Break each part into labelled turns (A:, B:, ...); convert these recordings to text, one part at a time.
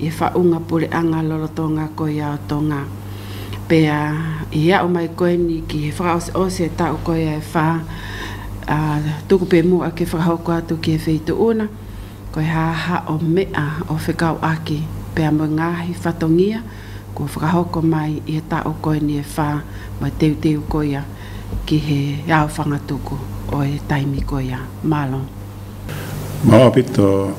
A: I whaunga pore anga lolo to nga koia o tonga. Pea, i ao mai koe ni ki he whakaoseose e tau koia e wha, a, tuku pe mua ke whakahoko atu ki he wheito una, koe ha ha o mea o whekao aki, pea mo nga hi whatongia, kua whakahoko mai i he tau koe ni e wha, mai teuteu koia ki he ao whangatuku o e taimi koia. Marlon. Mā Pita.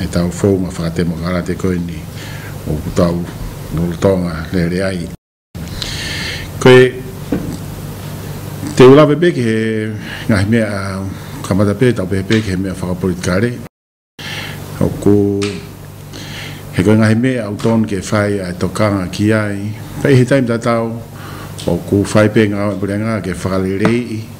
A: He tau whou ngā whakatemo karate koini o ōku tau nō Roto Tonga rere ai. Ko te ura pepeke he ngāhi mea ka matapē tau pepeke he mea whakapori kare. Ko he koe ngāhi mea au tonu kei whai a tō kānga ki ai. Pei he taim tatau o ku whai pē ngā ora purengā kei whakarere i.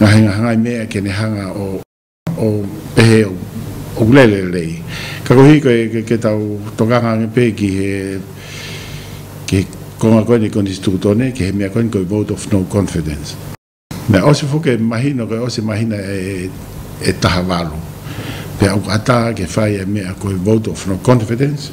A: Nga hinga hanga i mea ke ne hanga o o pehe o ukulele rei. Ka kohi koe ke, ke tau tokanga nge pehe ki he ki konga koe ni koni tuku tone ki he mea koe koe vote of no confidence. Mea osi foke mahi no koe osi mahi na e e taha valo. Pea uku ata ke whai e mea koe vote of no confidence.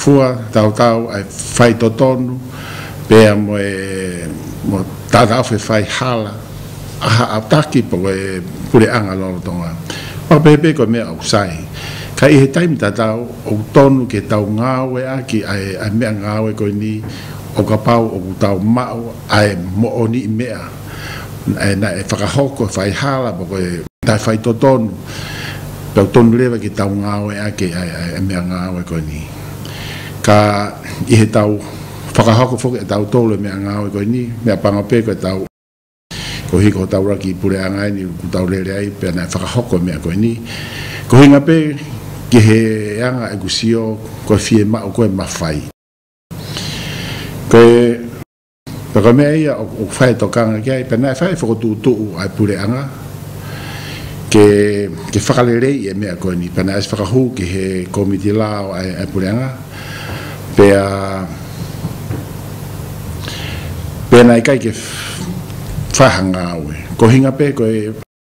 A: Fua, Taotao, I whai to tonu, pea mo e, mo tata whe whai hala, aha a taki po e pure anga lolo tonga. Whakapehepe koe mea au, sai. Kai i he taimi tatao, oku tonu ke tau ngawe aki ae, ae mea ngawe koe ni, o ka pau oku tau mao, ae, mo oni i mea. Ena, e whakahoko, e whai hara mo koe. Tai whai to tonu, tau tonu rewa ki tau ngawe ake, e mea ngawe koe ni. Ka, i he tau whakahoko foki, e tau tolu e mea ngawe koe ni, mea panga pe koe tau, ko hiko tau raki i pure anga ai ni, ku tau rere ai, pe na e whakahoko e mea koe ni, ko hinga pe ki he anga e ku sio, koe fie ma o koe ma whai. Koe. Na ka mea ia, O whai to kanga ki ai, pena e whai whakatu tu u ai pure anga, ke, ke whakarere i e mea koe ni, pena es whakahu ki he komiti la o ai, ai pure anga, pea, pena i kai ke whai hanga au e, ko hinga pe koe,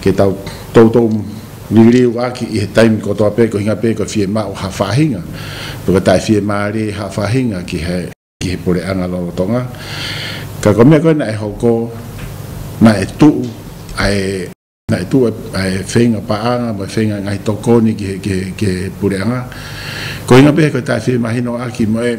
A: Kei tau toutou ririri o Waki i he taimi kua toa pea kua hinga pea kua whie mā o Hawhahinga, me kua tae whie mā rē Hawhahinga ki he ki he pore anga Rarotonga. Ka kua mea koe na e hoko, na e tuu, a e na e tuu a e whenga paanga mo e whenga ngahi tokoni ki he ki he ki he pure anga. Kua hinga pea he kua tae whie mā hino Aki mo e.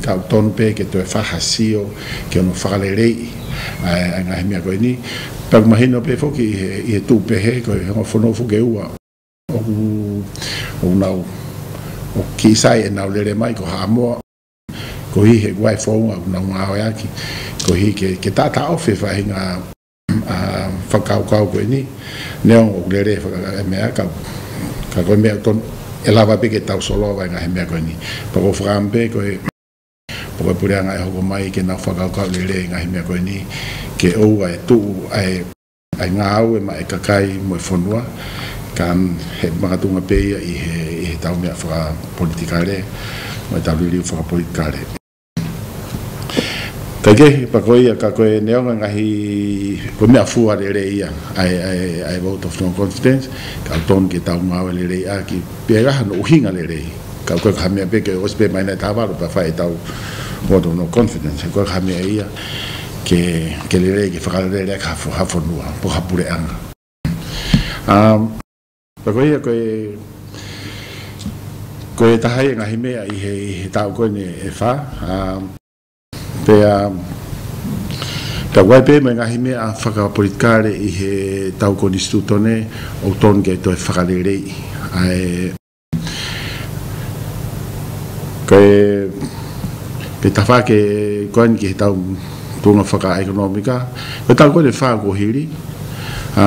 A: Kau tonu pe ke toe whakasio ke ono whakarerei ai nga he mea koe ni. Taku mahi no pe foki i he tupehe ko he honga fono fo ke ua. Oku o nau o Kisai e nau rere mai ko Haamoa. Kohi he wai founga o nau ngawe aki. Kohi ke tata ofe whahi nga. whakaokao koe ni ne ongo kule re whakaka e mea ka ka koe mea kon e lava peke tau solo vai nga he mea koe ni pa ko whakampe koe pa koe pure anga e hoko mai ke nau whakaokao le re nga he mea koe ni ke ou ai tu ai ai nga au e ma e kakai mo e whanua ka he makatunga peia i he i he tau mea whaka politika re mo e tau ririu whaka politika re. Kei kei, pa koia, ka koe neo nga ngahi, ko mea fua re re ia, ai, ai, ai vote of no confidence, ka ton ke tau ngau le re ia ki, pe ga hano uhinga le re, ka koe ka mea pe ke os pe mai na ta varo pa fai tau vote of no confidence, koe ka mea ia, ke, ke le re, ke whakare re re ka hafo, hafo nua, po hapure anga. Um. Na koia koe koe e taha i engahi mea i he i he tau koe ne e wha a pea ta wai pe me ngahi mea a whaka politkare i he tau ko ni stu tone o ton ke to e whakarerei ae koe ke tawha ke koe ni ki he tau punga whaka ekonomika koe tau koe ne wha ko hiri a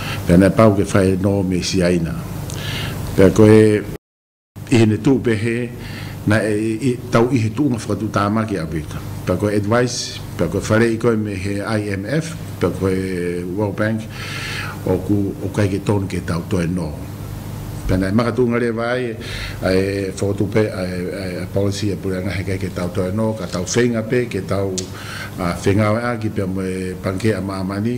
A: Pēnei pau ke whai nō me siaina. Pea koe, i hine tū pea he, na, i, tau i he tūnga whakatū tāmaki a Vita. Pea koe advice, pea koe whare i koe me he IMF, pea koe World Bank, ōku, ōku heike tonu ke tau toe nō. Pēnei maka tūngarewa ai, e whakatupe, e policy, e pureanga heke ke tau toe nō, ka tau wheinga pea, ke tau, a, whengawe a, ki pea moe pankea māmani,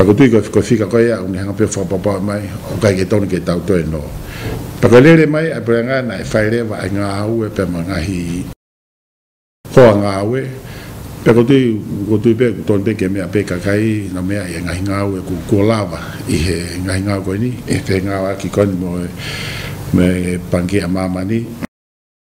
A: Takotui koe koe whika koe ia onge hanga pio whakapapa mai o kai ke tonu ke tau toi no pakarere mai a pera ngana e whai rewa ai nga aue pe ma nga hi ho a nga aue pe kotui kotui pe ku tonte ke mea pe kakai na mea ia nga hi nga aue ku ku lava i he nga hi nga koe ni e whenga wa ki koe ni mo me pangi a mama ni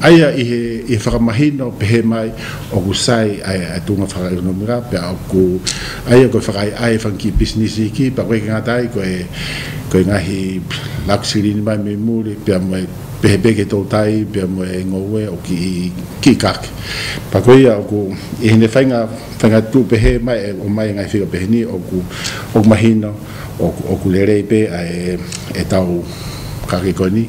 A: Ai a ihe i whakamahi no pehe mai oku sai ai a tunga whakaekonomika pea oku ai a koe whakaae ai whanki pisinisi ki pa koe ki ngata ai koe koe ngahi laku sirini mai me muri pea moe pehe beke to tai pea moe e ngoue oki i ki kake pa koe ia oku i hine whainga whainga tu pehe mai e o mai ngai whika pehe ni oku oku mahi no oku oku rerei pe a e e tau kake koe ni.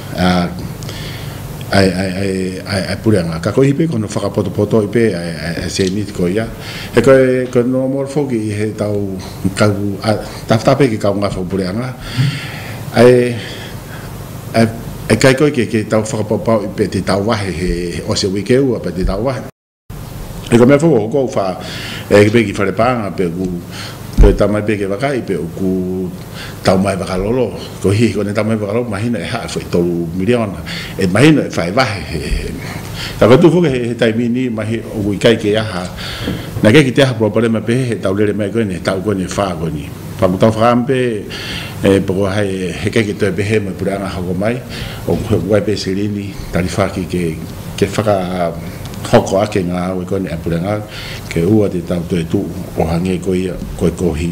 A: e purea nga kakoihi pe kono whakapotopoto i pe e Seimit ko ia, E koe, koe no Mor foki i he tau kahu tawhata pe ki kaunga whau purea nga, e kai koe ke tau whakapau pau i pe te tau wahe he ose wike ua pe te tau wahe. E ka mea whakahoko au wha, e ke peki whare pānga pe ku, ko e tamai pe ke wakahi pe u ku tau mai whakalolo, ko hihi ko ne tau mai whakalolo mahina e hae whai tolu miriona, e mahina e whai wahe he, ka whatu whoke he he taimini mahi o ku i kai ke aha, na ke kite aha pua pare mai pehe he tau rere mai koe ne, tau koe ne wha koe ni. Wha ku tau whakampe e poko hai he kai ke toi pehe mai pure anga hoko mai, o ku he ku kai pe sirini, tari wha ki ke, Ke whakahoko ake ngā awe koinei a Purengau, ke ua te tau toi tū, oha ngē koia, koi kōhi.